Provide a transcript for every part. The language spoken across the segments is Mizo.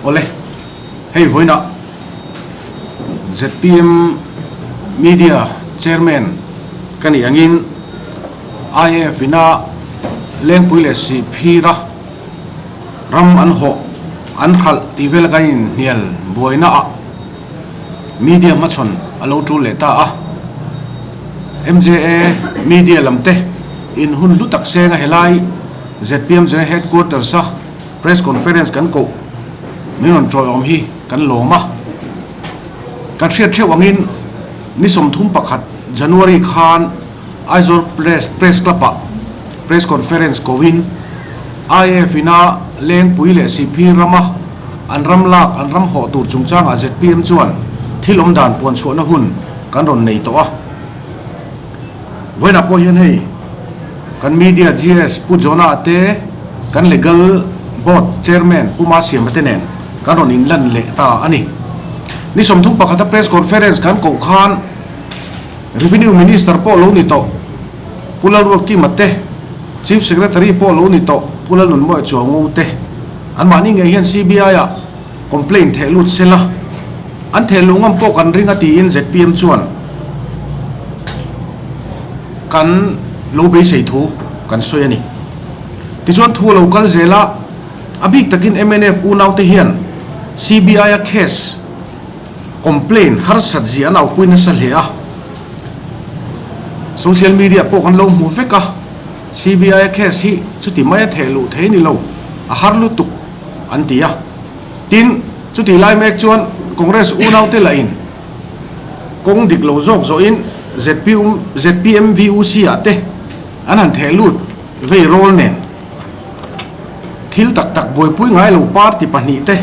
Awle, hei vawiinah zpm Media Chairman ka nih angin IAF ina Lengpui leh Sihphira ram an hawh an hralh tih vel kan inhnial buainaah Media hmachhawn a lo tul leh ta a. MJA Media lamte inhun hlu tak senga helai, Zpmz Headquarters a Press Conference kan koh min rawn tawihawm hi kan lawm a, kan hriat theuh angin ni sawmthum pakhat January khan Aizawl Press Club ah Press Conference kohin IAF ina Lengpui leh Siphi rama an ram lak an ram hawh tur chungchangah zpm chuan thil awm dan puan chhuahna hun kan rawn nei tawh a. Vawiinah pawh hian hei kan media GS Pu Jona a te, kan legal board chairman Pu Ma Siam a te nen kan rawn in lan leh ta a ni. Ni sawm thum pakhata press conference kan koh khan Revenue Minister pawh lo ni tawh, Pu Lalruak Kim a te, Chief Secretary pawh lo ni tawh Pu Lalnunmawih Chuango te, anmahni ngei hian CBI-ah, Complaint theh lut se la, an theh luh ngam pawh kan ring a tiin zpm chuan kan lo beisei thu kan sawi a ni. Tichuan thu a lo kal zel a, a bik takin mnf unaute hian CBI a case complaint harsat zia an aupui nasa hle a. Social media pawh kan lo hmuh vek a, CBI a case hi chuti mai a theh luh thei ni lo, a har lutuk. an ti a. Tin, chutih lai mek chuan Congress unaute lahin kawng dik lo zawk zawhin zpm, zpm VUC ah te an han theh lut vei rawl nen thil tak tak buaipui ngai lo party pahnih te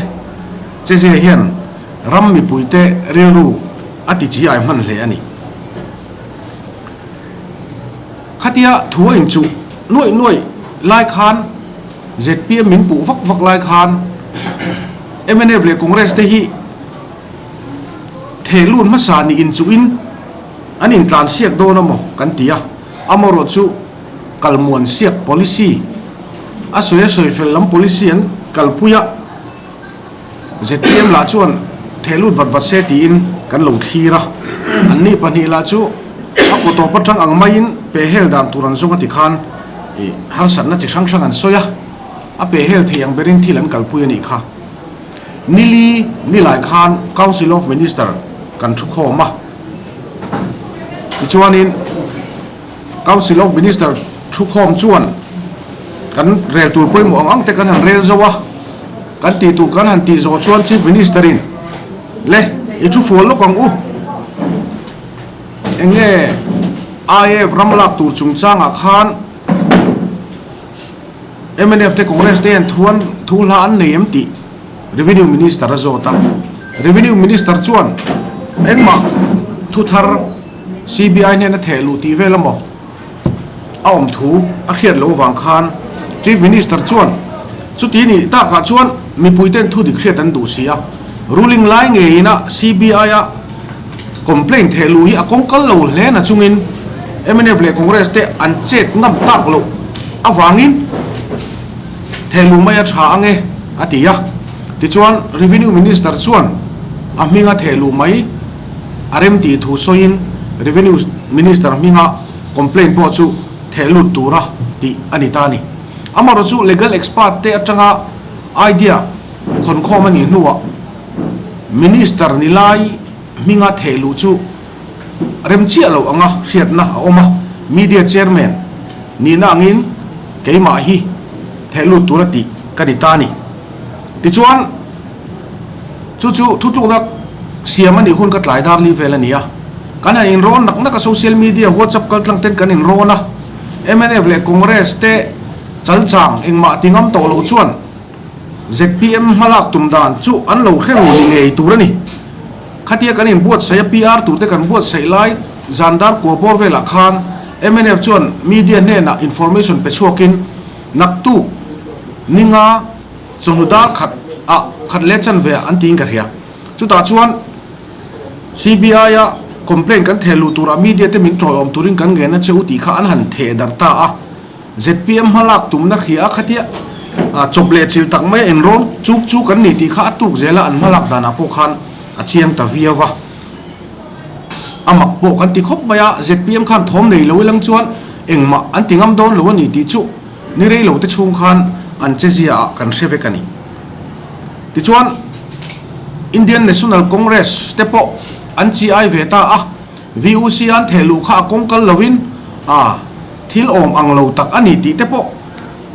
che zia hian ram mipui te rilru a tichhi ai hman hle a ni. Khatia thu a inchuh nuaih nuaih lai khan zpm min puh vak vak lai khan mnf leh congress te hi theh lut hmasa ni inchuh in an intlan siak dawn a maw kan ti a, amarawh chu kalmuan siak policy a sawi a sawi fel lam policy an kalpui a. Ztm lah chuan theh lut vat vat se tiin kan lo thlir a, an ni pahnih lah chu a kaw tawp atang ang maiin pehel dan tur an zawng a tikhan ih harsatna chi hrang hrang an sawi a, a pehel theih ang berin thil an kalpui a nih kha. Nili nilai khan Council of Minister kan thu khawm a, tichuanin Council of Minister thu khawm chuan kan rel tur pawimawh ang ang te kan han rel zo a, kan tih tur kan han tih zawh chuan Chief Minister in le i thu fual lawk ang u, eng nge IAF ram lak tur chung chang ah khan mnf te Congress te hian thuan thu hla an nei em tih Revenue Minister a zawt a, Revenue Minister chuan engmah thu thar CBI hnena theh luh tih vel emaw a awm thu a hriat loh vang khan Chief Minister chuan chuti nih takah chuan mipuite'n thu dik hriat an duh si a, ruling lai ngeiin a CBI-a complaint theh luh hi a kawng kal lo hle na chungin mnf leh Congress te an chet ngam tak loh avangin theh luh mai a tha ang e a ti a. Tichuan Revenue Minister chuan a hming a theh luh mai. a rem tih thu sawiin Revenue Minister hminga complaint pawh chu thehlut tura tih a ni ta ni. Amarawh chu legal expert te atanga idea khawnkhawm a nih hnuah Minister ni lai hminga thehluh chu rem chiah loh anga hriatna a awm a, Media Chairman nihna angin keimah hi thehlut tura tih ka ni ta ni. Tichuan. Chu chu thutlukna siam a nih hun ka tlai dar lih vel a ni a. Kan han inrawn nak nak a social media WhatsApp kaltlang ten kan inrawn a. Mnf leh Congress te chalchang engmah ti ngam tawh loh chuan zpm hmalak tum dan chu an lo hrelo ni ngei tur a ni. Khatia kan inbuatsaih a PR tur te kan buatsaih lai zan dar kua bawr velah khan mnf chuan media hnenah information pe chhuakin naktuk ninga Chawhnu dar khat ah khat leh chan ve ah an tiin ka hria. Chutah chuan CBI a complaint kan theh luh tur ah media te min tawihawm turin kan ngen a che u tih kha an han theh dar ta a. ZPM hmalak tumna hria a khatia chawp leh chil tak mai a enrawn chuk chu kan ni tih kha a tuk zel a an hmalak dan ah pawh khan a chiang ta viau a. A mak pawh kan ti khawp mai a, ZPM khan thawm nei lo i lang chuan engmah an ti ngam dawn lo a ni tih chu. Ni rei lo te chhung khan an che zia ah kan hre vek a ni. Tichuan, Indian National Congress te pawh an chi ai ve ta a, VUC an theh luh kha a kawng kal lo in ah thil awm ang lo tak a ni tih te pawh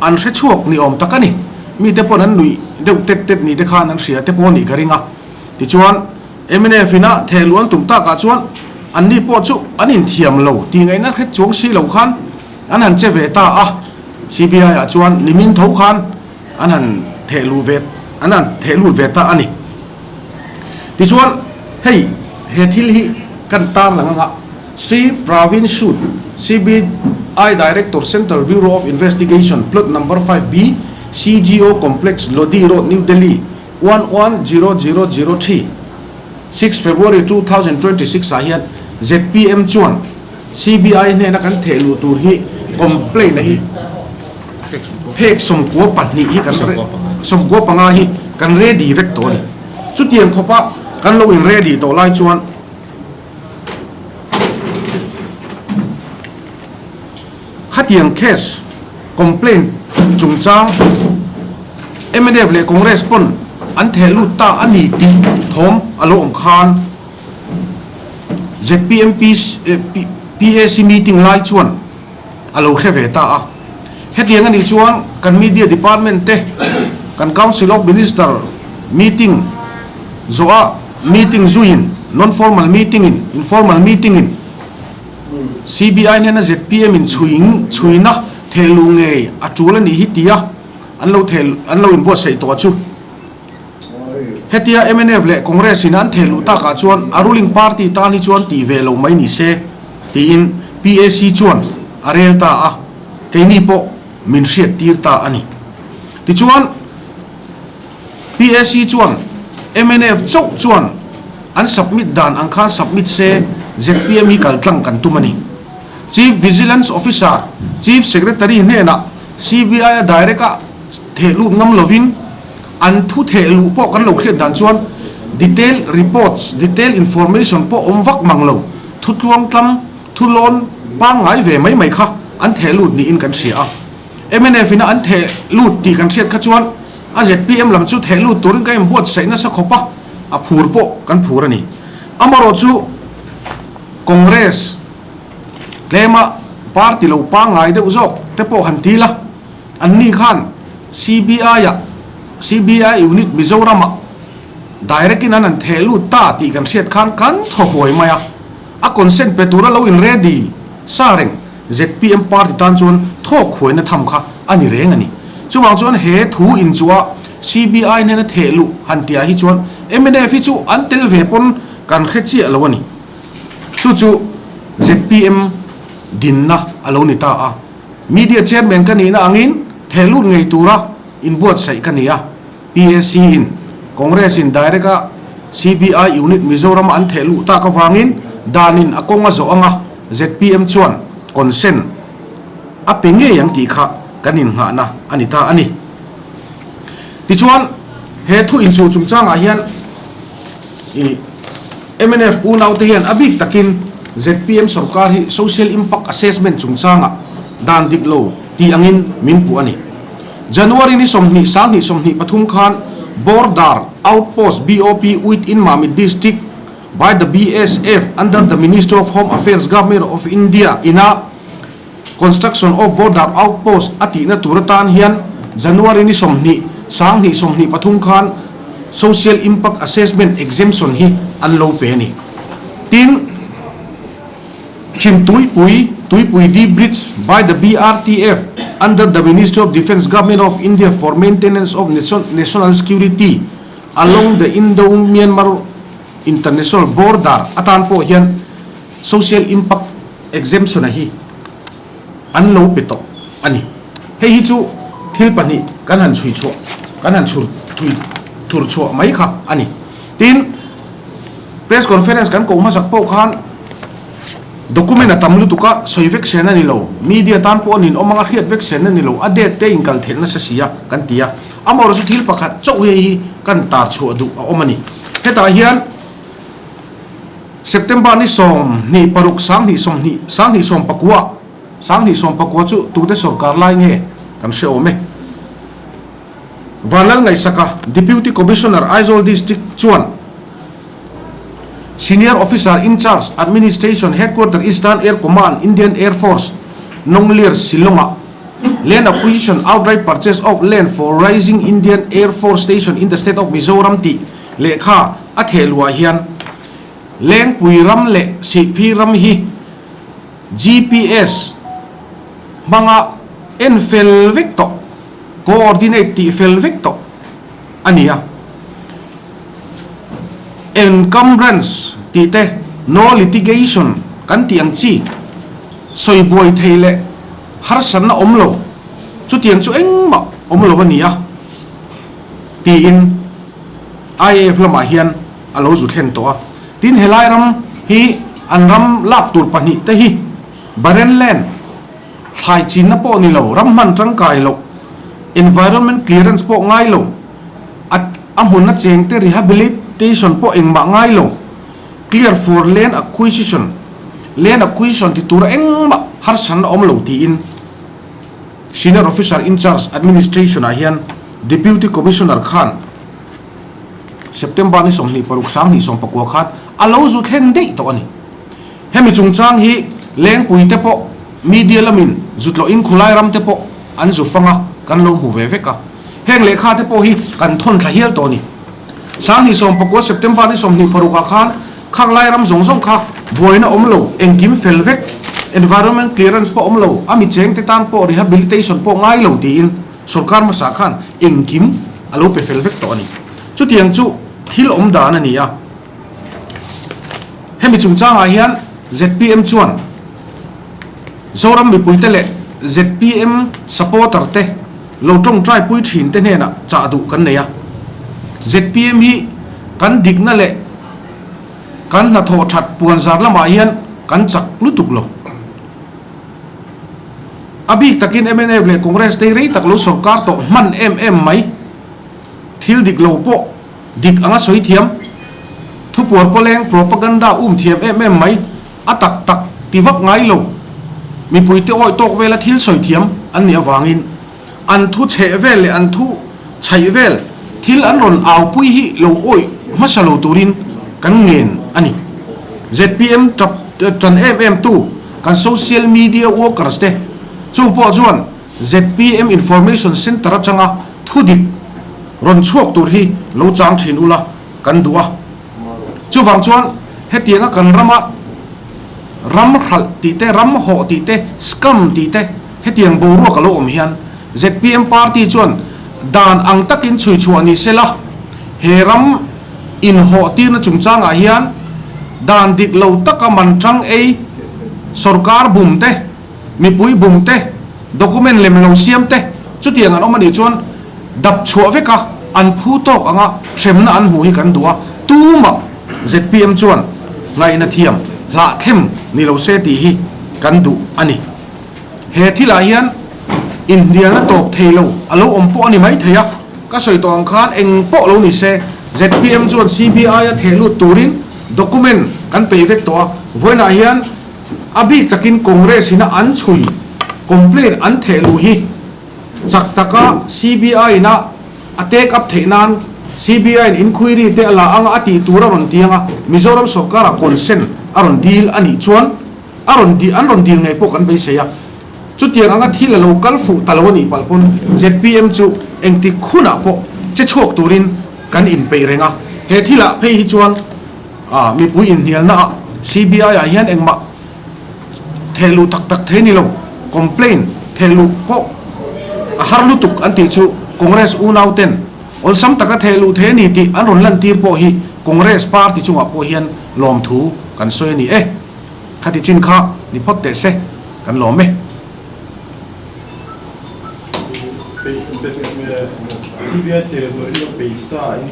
an hre chhuak ni awm tak a ni. Mi te pawn an nuih deuh tet tet ni te khan an hria te pawh nih ka ring a. Tichuan, MNF in a theh luh an tum tak ah chuan an ni pawh chu an inthiam lo tih ngaihna hret chuang si lo khan, An han che ve ta a, CBI-ah chuan nimin tho khan an han thehlu ve an han thehlut ve ta a ni. Tichuan, hei he thil hi kan tar lang anga Sri Pravin Sood, CBI Director, Central Bureau of Investigation, Plot Number five B, CGO Complex, Lodi Road, New Delhi, one one zero zero zero three, six February two thousand twenty six ah hian ZPM chuan, CBI hnena kan thehluh tur hi complaint hi phek sawmkua pahnih hi kan sawmkua panga hi kan ready vek tawh a ni. Chutiang khawpa kan lo in ready tawh lai chuan khatiang case complaint chungchang MNF leh Congress pawn an thehlut ta a ni tih thawm a lo awm khan, zpm pac meeting lai chuan a lo hre ve ta a. Hetiang a nih chuan kan media department te kan Council of Minister meeting zawha meeting zui in, non formal meeting in, informal meeting in CBI hnena zpm in chhuina thehluh ngei a tul a nih hi tia an lo inbuatsaih tawh a chu. Hetia mnf leh Congress in an theh luh tak ah chuan a ruling party tan hi chuan tih ve lo mai ni se tiin pac chuan a rel ta a, keini pawh min hriat tir ta a ni. Tichuan pac chuan mnf chauh chuan an submit dan ang khan submit se zpm hi kal tlang kan tum a ni. Chief Vigilance Officer, Chief Secretary hnenah cbi a direct a, Thehlut ngam lovin an thu theh luh pawh kan lo hriat dan chuan detail reports, detail information pawh awm vak mang lo, thu tluang tlam, thu lawn pangngai ve mai mai kha an theh lut niin kan hria a. MNF ina an theh lut tih kan hriat kha chuan a zpm lam chu theh lut turin ka en buatsaih nasa khawp a, a phur pawh kan phur a ni. Amarawh chu Congress tlema party lo pangngai deuh zawk te pawh han ti la. Anni khan CBI-a, CBI unit Mizoram-a direct-in an an theh lut ta tih kan hriat khan kan thaw huai mai a. A consent pe tura lo in ready sa reng zpm party tan chuan thawk huaina tham kha a ni reng a ni. Chuvang chuan he thu inchua CBI hnena theh luh han tia hi chuan MNF hi chu an tel ve pawn kan hre chiah lo a ni. Chu chu zpm dinna a lo ni ta a. Media Chairman ka nihna angin thehlut ngei tura inbuatsaih ka ni a, PAC in Congress in direct a CBI unit Mizoram-a an thehluh tak avangin danin a kawng a zawh anga zpm chuan consent a pe ngei ang tih kha kan innghahna a ni ta a ni. Tichuan, he thu inchuh chungchangah hian. I mnf unaute hian a bik takin zpm sawrkar hi Social Impact Assessment chungchangah dan dik lo tih angin min puh a ni. January ni sawmhnih, Sanghnih sawmhnih pathum khan Border Outpost, BOP, Uit in Mamit District by the BSF under the Ministry of Home Affairs, Government of India, ina, Construction of Border Outpost a tihna tur atan hian January ni sawmhnih, Sanghnih sawmhnih pathum khan Social Impact Assessment Exemption hi an lo pe a ni. Tin, Chhin Tuipui, Tuipui Deep Bridge, by the BRTF, under the Ministry of Defence, Government of India, for maintenance of national security along the Indo-Myanmar International Border atan pawh hian, Social Impact Exemption-a hi an lo pe tawh a ni. Hei hi chu thil pahnih kan han chhui chhuah, kan han chhur thui tur chhuah mai kha a ni. Tin, Press Conference kan koh hmasak pawh khan Document-a tam lutuka sawi vek sian a ni lo, Media tan pawh an inawm anga hriat vek sian a ni lo, a date te inkal theih nasa si a, kan ti a. Amaherawhchu thil pakhat chauh hei hi kan tar chhuah duh a awm a ni. Hetah hian. September ni sawm hnih paruk sang hnih sawm hnih sang hnih sawm pakua sang hnih sawm pakua chu tute sawrkar lai nge kan hre awm e. Vanlal Ngaisaka Deputy Commissioner Aizawl District chuan Senior Officer Incharge Administration Headquarter Eastern Air Command Indian Air Force Nonglir Shillonga Land Acquisition Outright Purchase of Land for Rising Indian Air Force Station in the State of Mizoram tih Lehkha a thehluah hian Lengpui ram leh Sihphir ram hi GPS hmanga en fel vek tawh, coordinate tih fel vek tawh a ni a. Encumbrance tih te, no litigation kan tih ang chi, sawi buai thei leh harsatna awm lo chutiang chu engmah awm lo a ni a. tiin IAF lamah hian a lo zu thleng tawh a. Tin, he lai ram hi an ram lak tur pahnih te hi Barrenland thlai chinna pawh ni lo, ram hman tangkai loh, environment clearance pawh ngai lo, a a hmuna cheng te rehabilitation pawh engmah ngai lo, clear for land acquisition, land acquisition ti tur engmah harsan a awm lo tiin, Senior Officer in Charge Administration ah hian Deputy Commissioner khan September ni sawmhnih paruk sang hnih sawmpakua khan a lo zu thleng daih tawh a ni. Hemi chungchang hi Lengpui te pawh media lamin zutlawhin khulai ram te pawh an zu fanga kan lo hmu ve vek a. Heng lehkha te pawh hi kan thawn thla hial tawh a ni. Sang ni sawm pakua September ni sawm hnih paruk ah khan khang lai ram zawng zawng kha buaina awm lo, engkim fel vek, environment clearance pawh awm lo, a mi cheng te tan pawh rehabilitation pawh ngai lo tiin sorkar hmasa khan engkim a lo pe fel vek tawh a ni. Chutiang chu thil awm dan a ni a. Hemi chungchang ah hian zpm chuan Zoram mipui te leh zpm supporter te, Lo tawngtai puithin te hnenah chah duh kan nei a, zpm hi kan dikna leh kan hnathawh that puanzar lamah hian kan chak lutuk lo. A bik takin mnf leh Congress te hi rei tak lo sawrkar tawh hman em em mai, thil dik lo pawh dik anga sawi thiam, thupuar pawleng, propaganda, um thiam em em mai. a tak tak ti vak ngai lo. Mipuite awih tawk vela thil sawi thiam an nih avangin an thu chheh vel leh an thu chhaih vel thil an rawn au pui hi lo awih hmasa lo turin kan ngen a ni. Zpm tap tan em em tu kan social media workers te chu pawh chuan zpm information centre atanga thudik rawn chhuak tur hi lo chang thin ula kan duh a. Chuvang chuan hetianga kan rama ram hralh tih te, ram hawh tih te, scam tih te hetiang boruak a lo awm hian zpm party chuan dan ang takin chhui chhuah ni se la, he ram inhawh tirna chungchangah hian dan dik lo taka man tang ei sawrkar bum te, Mipui bum te, document lem lo siam te chutiang an awm a nih chuan dap chhuah vek a, an phu tawk anga hremna an hmuh hi kan duh a, tumah zpm chuan ngaihna thiam hlah thlem ni lo se tih hi kan duh a ni. He thil ah hian inhnialna tawp thei lo a lo awm pawh a ni mai thei a, ka sawi tawh ang khan eng pawh lo ni se zpm chuan CBI a theh lut turin document kan peih vek tawh a, vawiinah hian A bik takin Congress in a an chhui complaint an theih luh hi chak taka CBI in a a take up theih nan CBI in inquiry te a la anga a tih tur a rawn ti anga Mizoram sawrkar ah consent a rawn dil a nih chuan a rawn dil an rawn dil ngei pawh kan beisei a. Chutiang anga thil a lo kal fuh ta lo a nih palh pawn ZPM chu engtik hunah pawh che chhuak turin kan inpeih reng a. He thil ah phei hi chuan. A, mipui inhnialnaah CBI-ah hian engmah theh luh tak tak thei ni lo complaint theh luh pawh a har lutuk an tih chu Congress unauten awlsam taka theh luh thei a ni tih an rawn lantir pawh hi Congress party chungah pawh hian lawmthu kan sawi a ni e. Khati chin kha ni phawt teh se kan lawm e. Pei pei bet nge CBI theh luh hnu hi pei sa in.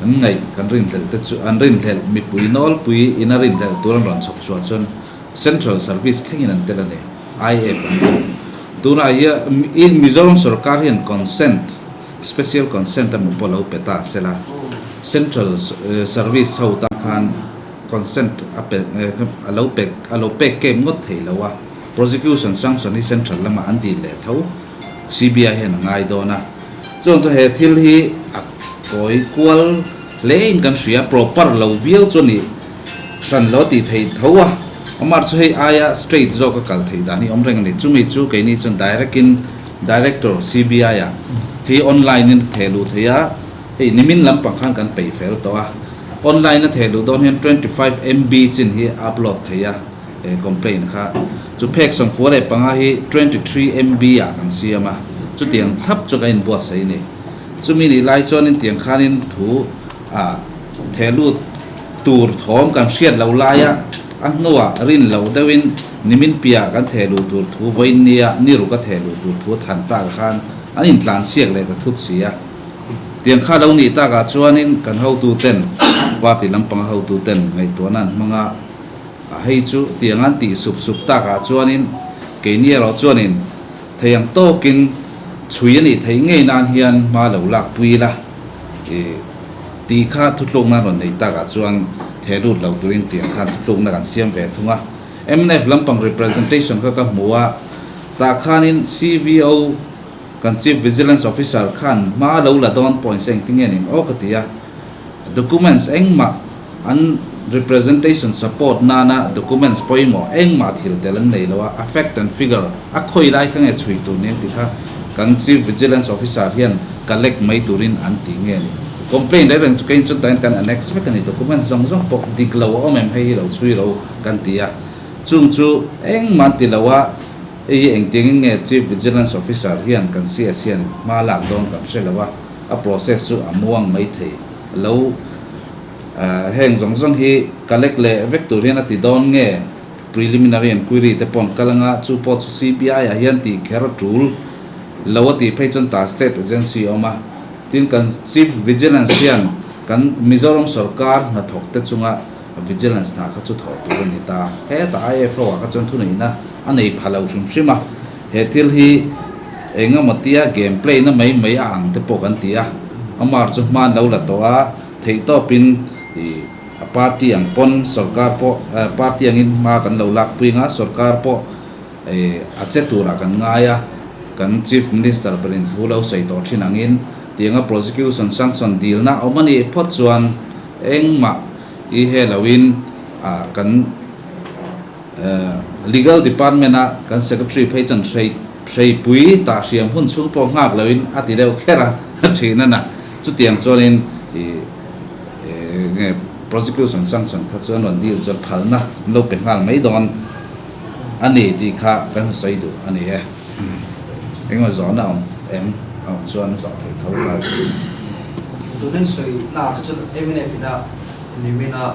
Kan ngaih kan rinhlelh te chu an rinhlelh mipui nawlpui ina rinhlelh tur an rawn chhawp chhuah chuan Central Service thlengin an tel a ni, IF an ti. Tunah hian Mizoram sawrkar hian consent, special consent emaw pawh lo pe ta a sela, Central Service ho tan khan consent a pe a lo pek a lo pek kep ngawt thei lo a, prosecution sanction hi Central lamah an dil leh tho, CBI hian a ngai dawn a. Chuan chu he thil hi a kawi kual hle in kan hria proper lo viau chu ni hran lo ti thei tho a, Omar chu hei aia straight zawk a kal thei dan hi awm reng a ni, chumi chu keini chuan direct in Director CBI ah hi online in a thehluh thei a, hei nimin lampang khan kan peih fel tawh a, online a thehluh dawn hian twenty five MB chin hi a upload thei a. he complaint kha chu phek sawmkhua leh panga hi twenty three MB ah kan siam a, chutiang thlap chu kan inbuatsaih a ni. Chumi nih lai chuanin tiang khanin thu a theh lut tur thawm kan hriat loh laia a hnuah rin loh deuhin nimin piahah kan theh luh tur thu vawiin nia niruka theh luh tur thu a than takah khan an intlansiak leh ta thut si a. Tiang kha lo nih takah chuanin kan hotuten party lampanga hotuten ngaihtuahna an hmang a, A hei chu tiang an tih sup sup tak ah chuanin keini erawh chuanin thei ang tawkin chhui a nih theih ngei nan hian hma lo lak puii la i tih kha thutluk nan rawn nei tak ah chuan theh lut lo turin tiang khan thutluk na kan siam ve thung a. Mnf lampang representation kha ka hmu a, tah khanin CVO kan Chief Vigilance Officer khan hma lo la dawn points engtin nge nin aw ka ti a, documents engmah, An representation support nana documents pawimawh engmah thil tel an nei lo a, a fact and figure a khawi lai kha nge chhui tur nen tikha kan Chief Vigilance Officer hian collect mai turin an tih nge ni? Complaint reng reng chu keiin chuan tain kan annex vek a ni, documents zawng zawng pawh dik lo a awm em hei hi lo chhui lo kan ti a, chung chu engmah an ti lo a, hei hi engtiangin nge Chief Vigilance Officer hian kan CS hian hma lak dawn kan hre lo a, a process chu a muang mai thei lo. Heng zawng zawng hi ka lek leh vek tur hian a ti dawn nge? Preliminary Enquiry te paw'n ka la nga, chu pawh chu CBI ah hian tih kher a tul lo a tih phei chuan ta State Agency a awm a, tin kan Chief Vigilance hian kan Mizoram sawrkar hnathawk te chunga Vigilance hna kha chu thawh tur a ni ta. Heta IFO-a kha chuan thuneihna a nei pha lo hrim hrim a. He thil hi engematia game play na mai mai a ang te pawh kan ti a, Amar chu hmaan lo la tawh a, theihtawpin a party ang pawn sorkar pawh party angin hma kan lo lak puing a, sorkar pawh a che turah kan ngai a, kan chief minister berin thu lo sawi tawh thin angin tianga prosecution sanction dilna awm a nih phawt chuan engmah i helo in kan Legal Department a kan Secretary Pheichon Hreipui Tahriam hun chhung pawh nghak lo in a ti deuh kher a a thin a na. Chutiang chuan in i nge Prosecution sanction kha chu an rawn deal chuan phalna an lo pe nghal mai dawn a ni tih kha kan hre sawi duh a ni e. Engemaw zawhna awm em a awm chuan zawh thei tho lo. Tunin sawi na ah te chuan MNF in a nimin a.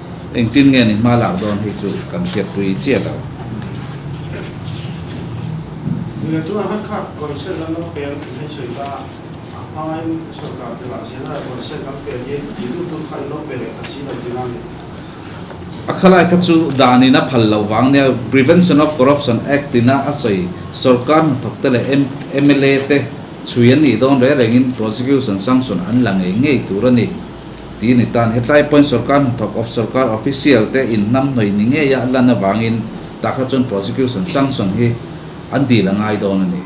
Engtin nge an inhma lak dawn hi chu kan hriatpui chiah lo. Tunah chuan hakhat concept lam lam pêl kan hre sawi ta a, a hmain sorkar te lah general concept lam pêl hi tih lutuk kha inlo pe leh ta si lo ti nan ni? A khalai kha chu dan in a phal lo vang nia, Prevention of Corruption Act in a a sawi, sorkar hnathawk te leh mla te chhui an nih dawn reng reng in prosecution sanction an la ngei ngei tur a ni. Ti ni tan, hetlai pawhin sorkar hnathawk of sorkar official te inhnam hnawi ni ngei a lan avangin tah kha chuan prosecution sanction hi an dil a ngai dawn a ni.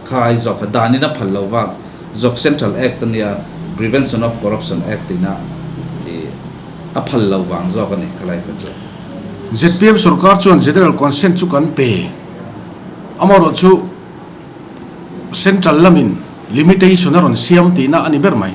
Kha ai zawk kha danin a phal lo vak, zawk central act a nia Prevention of Corruption Act ina ih a phal lo vang zawk a ni kha lai kha chu. Zpm sorkar chuan general consent chu kan pe, amarawh chu central lamin limitation a rawn siam tihna a ni ber mai.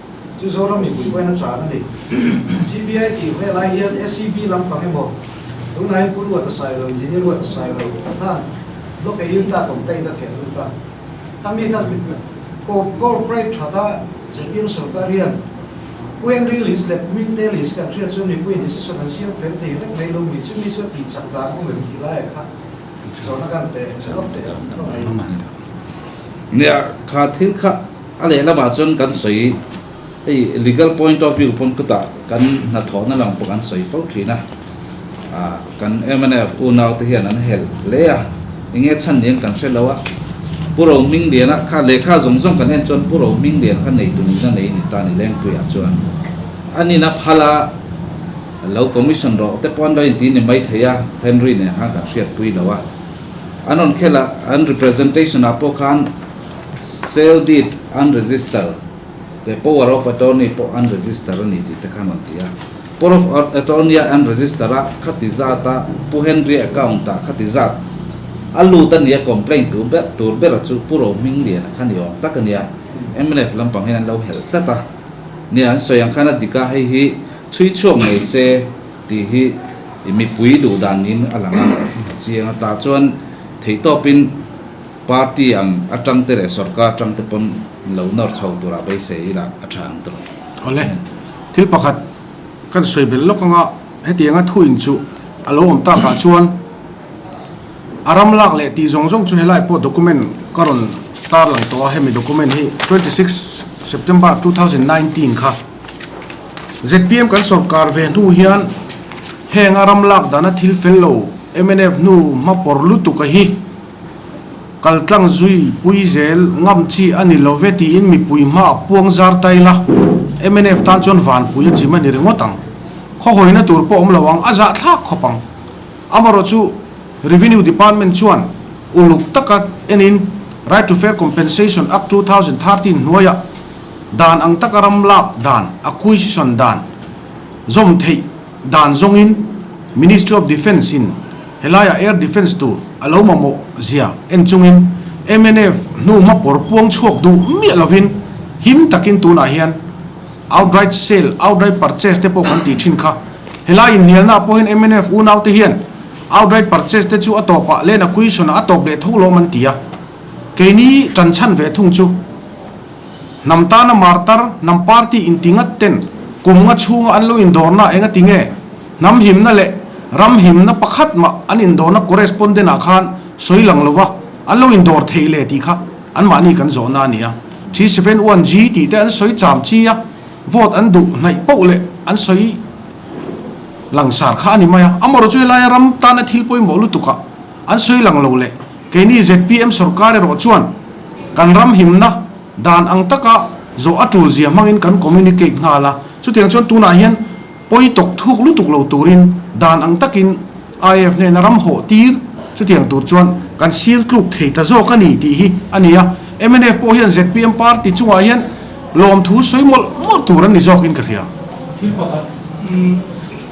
Chu Zoram mipui pawhin a chah na ni. CBI tih hmel lai hian SCB lampang emaw, tunahin pu ruat a sai lo, engineer ruat a sai lo, a than block ei in ta complaint a theh lut a. A mi kha corporate that a zirtir sawrkar hian Pu Henry Lis leh Pu Min Te Lis kan hria chuan mipuiin decision an siam fel thei vek mai lo ni chu mi chu a tihchak dan awm em tih laia kha zawhna kan pe lawk teh a ni. Nia kha thil kha. A lehlamah chuan kan sawi hei legal point of view pawn khutah kan hnathawhna lang pawh kan sawi fo thin a, kan mnf unau te hian an hel hle a, enge chhan niin kan hre lo a, Pu Rohmingliana kha lehkha zawng zawng kan en chuan Pu Rohminglian kha nei tu niin a nei a ni ta ni Lengpuiah chuan a nin a phal a, lo commission rawh te pawh an lo in ti ni mai thei a, Henry nen khan kan hriat pui lo a, an rawn khel a an representation ah pawh khan. Sale deed an register leh power of attorney pawh an register a ni tih te kha an rawn ti a. Power of attorney a an register a, khati zat a Pu Henry-a account ah khati zat a lut a nia complaint tur ber tur ber a chu Pu Rohming Liana kha ni awm tak a nia mnf lampang hian an lo helh hlat a nia an sawi ang khan a dik a hei hi chhui chhuak nei se tih hi mipui duh dan niin a lang a a chiang a tah chuan thei tawp in Party ang atangte leh sorkar atangte pawn lo nawr chho turah beisei ila a tha ang tawh. Awle. Thil pakhat kan sawi belh lawk anga hetianga thu in chu a lo awm takah chuan a ram lak leh tih zawng zawng chu helai pawh document ka rawn tar lang tawh a, hemi document hi twenty six September two thousand nineteen kha zpm kan sorkar ve hnu hian heng a ram lak dana thil fel lo mnf hnu hma pawr lutuk a hi, Kaltlang zui pui zel ngam chi a ni lo ve tiin mipui hma a puang zar ta ila, mnf tan chuan vanpui a chim a ni ringawt ang. Khawhawina tur pawh awm lo ang, a zah thlak khawp ang. Amarawh chu, Revenue Department chuan uluk taka enin Right to Fair Compensation Act two thousand thirteen hnuaia dan ang taka ram lak dan, acquisition dan, zawm theih, dan zawngin Ministry of Defence-in he laia Air Defence tur a lo mamawh zia en chungin mnf hnu hma pawr puang chhuak duh miah lovin him takin tunah hian outright sale, outright purchase te pawh kan tih thin kha. Helai inhnialnaah pawhin mnf unaute hian outright purchase te chu a tawpah leh a kuisawnah a tawp leh tho lawm an ti a, keini tanchhan ve thung chu. Hnam tana martar, hnam party intingatten kumnga chhunga an lo indawrnaah eng a ti nge? Hnam himna leh ram himna pakhat mah an indawrna correspondent-ah khan sawi lang lo va, an lo indawr thei le tih kha an mahni kan zawhna a nia. Three seven one G tih te an sawi cham chi a, vote an duh hnaih pauh leh an sawi langsar kha a ni mai a. Amaw rawh chu helai a ram tana thil pawimawh lutuk ah, An sawi lang lo leh keini zpm sorkar erawh chuan kan ram himna dan ang taka zawh a tul zia hmangin kan communicate nghal a, chutiang chuan tunah hian pawi tawk thuk lutuk lo turin dan ang takin IMF hnena ram hawh tir chutiang tur chuan kan sir tluk thei ta zawk a ni tih hi a ni a, mnf pawh hian zpm party chungah hian lawmthu sawi mawlh mawlh tur an ni zawkin ka hria. Thil pakhat.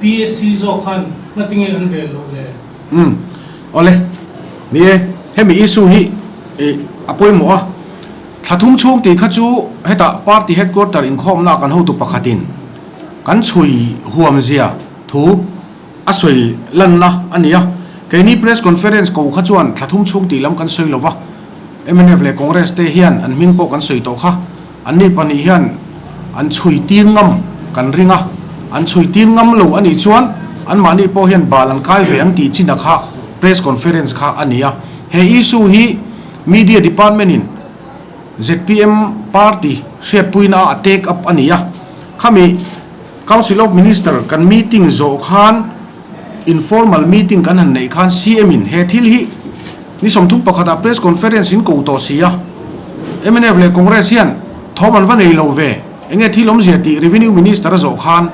PSC zawk khan hma tinge an rel loh le? Umm, awle. Ni e, hemi issue hi a pawimawh a. Thla thum chhung tih kha chu hetah party headquarter inkhawmna a kan hotu pakhatin kan chhui huam zia thu a sawi lanna a ni a. Keini press conference ko kha chuan thla thum chhung tih lam kan sawi lo va. Mnf leh Congress te hian an hming pawh kan sawi tawh kha. An ni pahnih hian an chhui tir ngam kan ring a, an chhui tir ngam lo a nih chuan anmahni pawh hian bal an kai ve ang tih china kha press conference kha a ni a. He issue hi Media Department in zpm party hriatpuina a take up a ni a, khami Council of Minister kan meeting zawh khan, Informal meeting kan han neih khan CM in he thil hi ni sawmthum pakhatah press conference in ko tawh si a, mnf leh Congress hian thawm an va nei lo ve, enge thil awmzia tih Revenue Minister-a zawh khan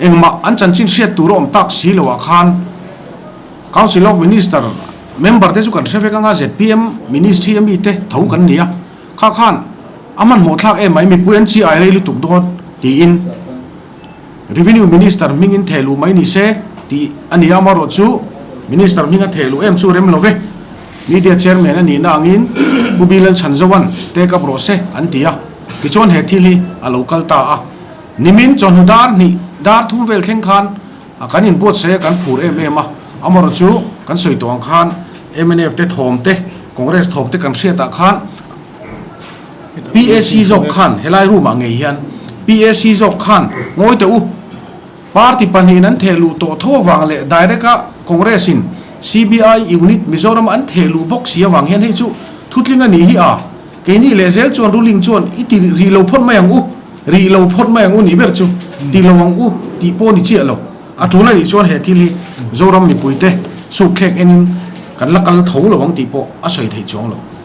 engmah an chanchin hriat tur a awm tak si lo ah khan Council of Minister member te chu kan hre vek anga zpm ministry ami te tho kan ni a, kha khan a hmanhmawhthlak em mai mipui an chi ai rei lutuk dawn tiin. Revenue Minister hmingin thehluh mai ni se tih a ni a, amarawh chu Minister hminga thehluh em chu rem lo ve. Media Chairman a nihna angin Pu Bilal Chanzawan take up rawh se an ti a, tichuan he thil hi a lo kal ta a, nimin chawhnu dar hnih dar thum vel thleng khan kan inbuatsaih a kan phur em em a, amarawh chu kan sawi tawh ang khan MNF te thawm te, Congress thawm te kan hriatah khan, PAC zawk khan helai room ah ngei hian PAC zawk khan ngawi teh u, party pahnihin an theh luh tawh tho avang leh direct a Congress in CBI unit Mizoram ah an theh luh bawk si avang hian hei chu thutling anih hi a, keini leh zel chuan ruling chuan i ti rih lo phawt mai ang u, rih lo phawt mai ang u nih ber chu ti lo ang u tih pawh ni chiah lo. A tul anih chuan he thil hi Zoram mipuite sukthlek enin kan la kal tho lo ang tih pawh a sawi thei chuang lo.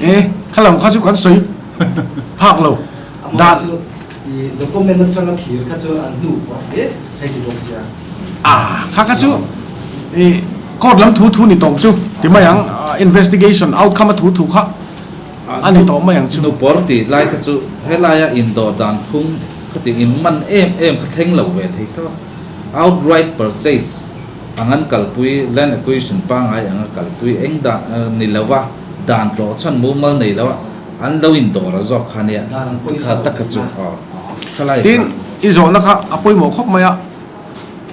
e kha lo kha chu kan sawi phak lo dan i document atanga thlir kha chu an hnu pawh e hei ti bawk sia a kha kha chu i court lam thu thu ni tawm chu ti mai ang investigation outcome a thu thu kha a ni tawm mai ang chu nupawr ti lai kha chu he laia indawh dan phung kha ti in man em em kha thleng lo ve thei thlap a out right purchase ang an kalpui land acquisition pangai anga kalpui engdah ni lo va. Dan tlawh chuan mumal nei loh an lo in dawr a zawk kha nia tikha taka chu khalai khan. Tin i zawhna kha a pawimawh khawp mai a,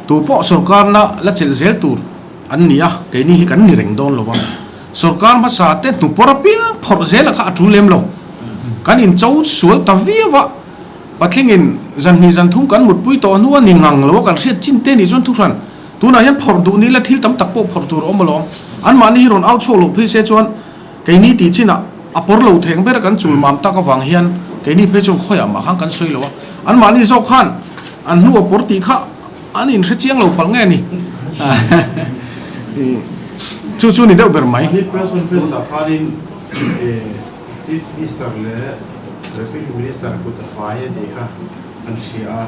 tu pawh sorkarna la chelh zel tur an ni a, keini hi kan ni reng dawn lo a, sorkar hmasa te hnupawr a piang phawrh zela kha a thu lem lo, kan in cho sual ta viau a, pathlingin zanhnih zanthum kan mutpui tawh hnu a ni ngang lo a kan hriat chin te nih chuan thu hran. Tunah hian phawrh duh nila thil tam tak pawh phawrh tur a awm alawm. Anmahni hi rawn au chhuak loh phei se chuan keini tih chinah a pawrh lo theng ber a kan chul mam tak avang hian keini phei chuan khawiah mah khan kan sawi lo a. Anmahni zawk khan an hnu a pawrh tih kha an inhre chiang lo palh nge ni? Chu chu ni deuh ber mai. Mahni Press Conference ah khanin Chief Minister leh Traffic Minister kut a fai a tih kha an hria a.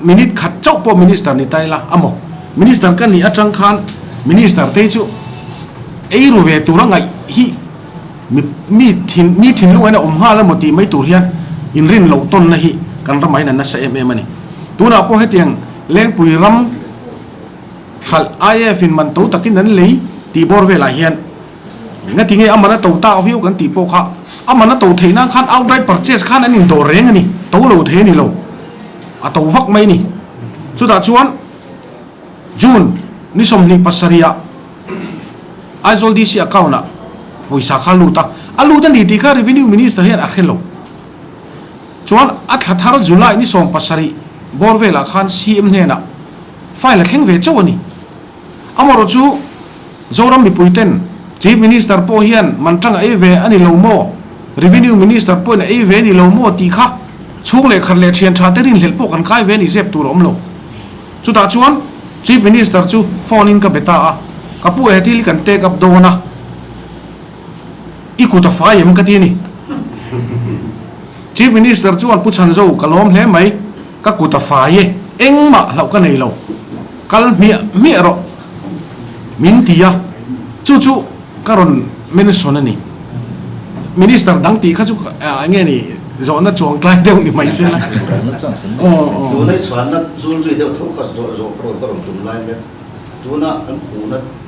minute khat chauh pawh minister ni ta ila a maw minister ka nih atang khan minister te chu ei ru ve tur a ngaih hi mi mi thin mi thinlung aina awm nghal a maw tih mai tur hian in rin loh tawn na hi kan ram aina nasa em em a ni tunah pawh hetiang lengpui ram hralh IF in man to takin an lei tih bawr velah hian Eng tinge a mana to ta viau kan tih pawh kha a mana to theih nan khan outright purchase khan an indawr reng a ni, to lo thei a ni lo, a to vak mai a ni. Chutah chuan June ni sawmhnih pasariah Aizawl DC account ah pawisa kha a lut a, a lut a ni tih kha Revenue Minister hian a hre lo. Chuan a thla thar July ni sawm pasarih bawr velah khan CM hnenah file a thleng ve chauh a ni. Amarawh chu Zoram mipuiten Chief Minister pawh hian man tang a ei ve a ni lo maw, Revenue Minister pawhin a ei ve ni lo maw tih kha chhung leh khat leh thian tha te rinhlelh pawh kan kai ve nih zep tur a awm lo. Chutah chuan Chief Minister chu phone in ka be ta a, ka pu e heti li kan take up dawn a, I kut a fai em ka ti a ni. Chief Minister chuan Pu Chanzo ka lawm hle mai, ka kut a fai e, engmah hlauh ka nei lo, kal hmiah hmiah rawh min ti a, chu chu ka rawn mention a ni. Minister dang tih kha chu enge ni zawhna chuangtlai deuh ni mai se la.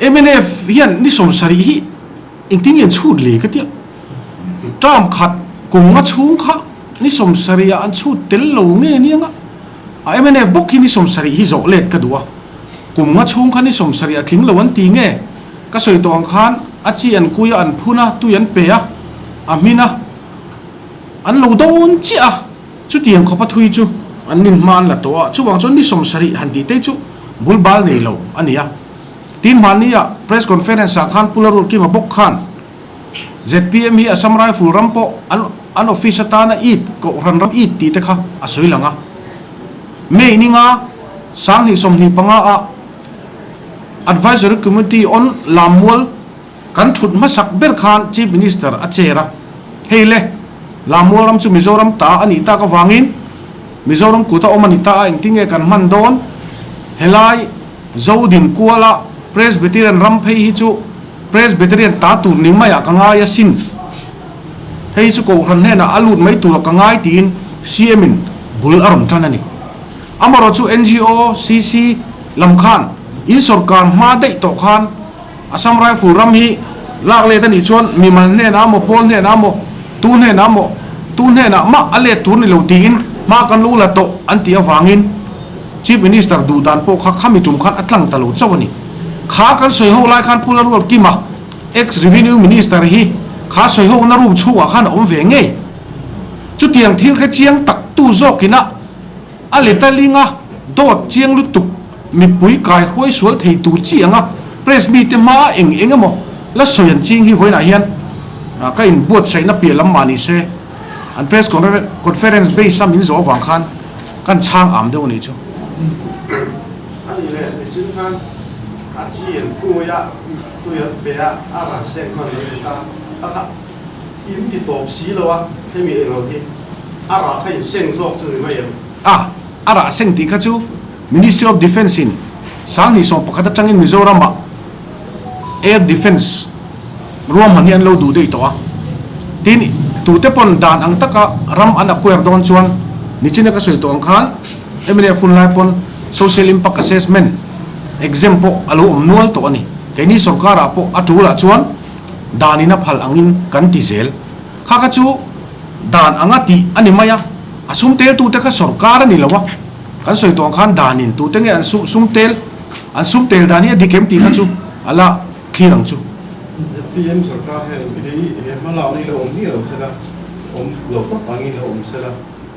MNF hian ni sawm sarih hi engtin nge an chhut leh ka tia. Trump khat kawng a chhung kha ni sawm sarih ah an chhut tel lo nge nia ngah. A MNF bawk hi ni sawm sarih hi zawh let ka duh a. Kum nga chhung kha ni sawm sarih a tling lo an ti nge? Ka sawi tawh ang khan a chi an kui a, an phun a, tui an pe a, a hmin a, an lo dawn chiah a. Chutiang khawpa thui chu an min hmaan la tawh a, chuvang chuan ni sawm sarih han tih te chu bul bal nei lo a ni a. Tin mahni a press conference ah khan Pula Rolkima bawk khan zpm hi Assam Rifle ram pawh an an office atana Eid, Kohhran ram Eid tih te kha a sawi lang a. May ninga sang hnih sawmhnih panga ah Advisory Committee on Lam Mual, Kan thut hmasak ber khan Chief Minister a chair a, hei le, Lammual ram chu Mizoram ta a nih tak avangin Mizoram kut a awm a ni ta a, engtin nge kan hman dawn? Helai Zodin kuala Presbyterian ram phei hi chu Presbyterian ta tur ni maiah ka ngai a sin, hei chu Kohhran hnenah a lut mai tura ka ngai tiin CM in bul a rawn tan a ni. Amarawhchu NGO, CC, lam khan in sorkar hma daih tawh khan Assam Rifle ram hi lak let a nih chuan mimal hnenah maw, Pawl hnenah maw, tu hnenah maw, tu hnenah mah a let tur ni lo tiin hma kan lo la tawh an tih avangin Chief Minister duh dan pawh kha khami tum khan a tlang ta lo chauh a ni. Kha kan sawi ho lai khan Pularual Kima, Ex Revenue Minister hi kha sawi ho na room chhungah khan a awm ve ngei. Chutiang thil kha chiang tak tu zawkinah, A letalinga dawt chiang lutuk mipui kaihuai sual thei tur chi anga press mite hmaa eng eng emaw la sawi an ching hi vawiinah hian ka inbuatsaihna piah lam mah nise an press conference base a min zawh avang khan kan chhang am deuh a nih chu. A nih leh nichin khan a chi an kuai a, tui an pe a, a ransek hman an lut a, takah. In ti tawp si lo a, hemi erawh hi a rah kha in seng zawk chu ni mai em? A, a rah seng tih kha chu Ministry of Defence in sang hnih sawm pakhat atangin Mizoramah Air Defence ruahman hi an lo duh daih tawh a. Tin, tute pawn dan ang taka ram an acquire dawn chuan nichina ka sawi tawh ang khan mnf hun lai pawn Social Impact Assessment exam pawh a lo awm nual tawh a ni. Keini sorkar ah pawh a tul ah chuan, dan in a phalh ang in kan ti zel. Kha kha chu dan ang a tih a ni mai a, a sumtel tute kha sorkar a ni lo a, kan sawi tawh ang khan dan in tute nge an suh sumtel, an sumtel dan hi a dik em tih kha chu a la thlir ang chu. Apm sorkar hian in hei he hma lak hi a lo awm diau sela, awm lo tawp ang in a awm sela.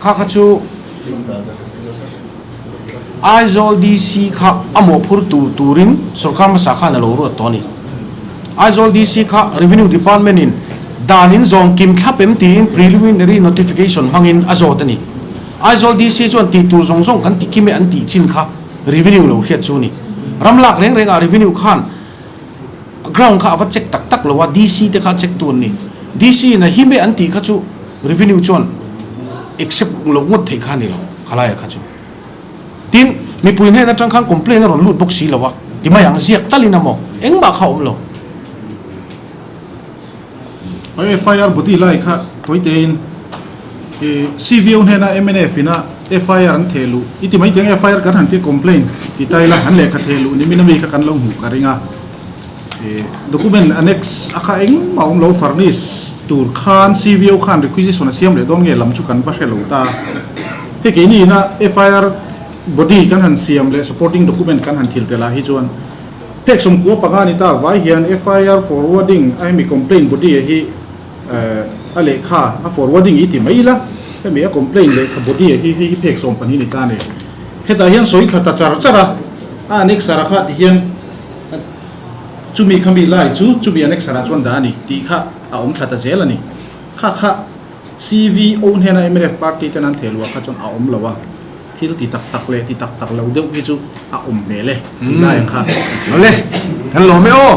Kha kha chu Aizawl DC kha a mawhphur tur turin sawrkar hmasa khan a lo ruat tawh a ni. Aizawl DC kha Revenue Department in dan in zawng kim thlap em tiin preliminary notification hmangin a zawt a ni. Aizawl DC chuan tih tur zawng zawng kan ti ki meh an tih chin kha Revenue lo hriat chu a ni. Ram lak reng rengah Revenue khan Ground kha a va check tak tak lo a, DC te kha a check tu an ni. DC in a hi meh an tih kha chu Revenue chuan accept lo ngawt theih kha a ni lo, khalaia kha chu. Tin, mipui hnen atang khan complaint a rawn lut bawk si lo a, timai ang ziak tal in a maw, engmah kha a awm lo. He FIR body lai kha tawitein CVO hnena MNF ina FIR an theh luh, i ti mai ti ang FIR kan han ti a complaint ti ta ila han lehkha theh luh ni min a mi kha kan lo hmuh ka ring a, document annex a kha engmah a awm lo furnish tur khan CVO khan requisition a siam leh dawn nge lam chu kan va hre lo ta. Hei keini ina FIR body kan han siam leh supporting document kan han thilrel ah hi chuan, Hek sawmkua panga ni ta vai hian FIR forwarding a hemi complaint body a hi a lehkha a forwarding i ti mai ila hemi a complaint lehkha body a hi hei hi phek sawm pahnih ni ta ni. Hetah hian sawi thla ta char char a a annexer a kha ti hian chumi kha mi lai chu chumi annexer ah chuan dah a ni tih kha a awm thla ta zel a ni. Kha kha. CVO hnena mrf party ten an thehlua kha chuan a awm lo a, thil ti tak tak leh ti tak tak lo deuh hi chu a awm hmel e, tih lai ang kha. Lo le, kan lawm e aw.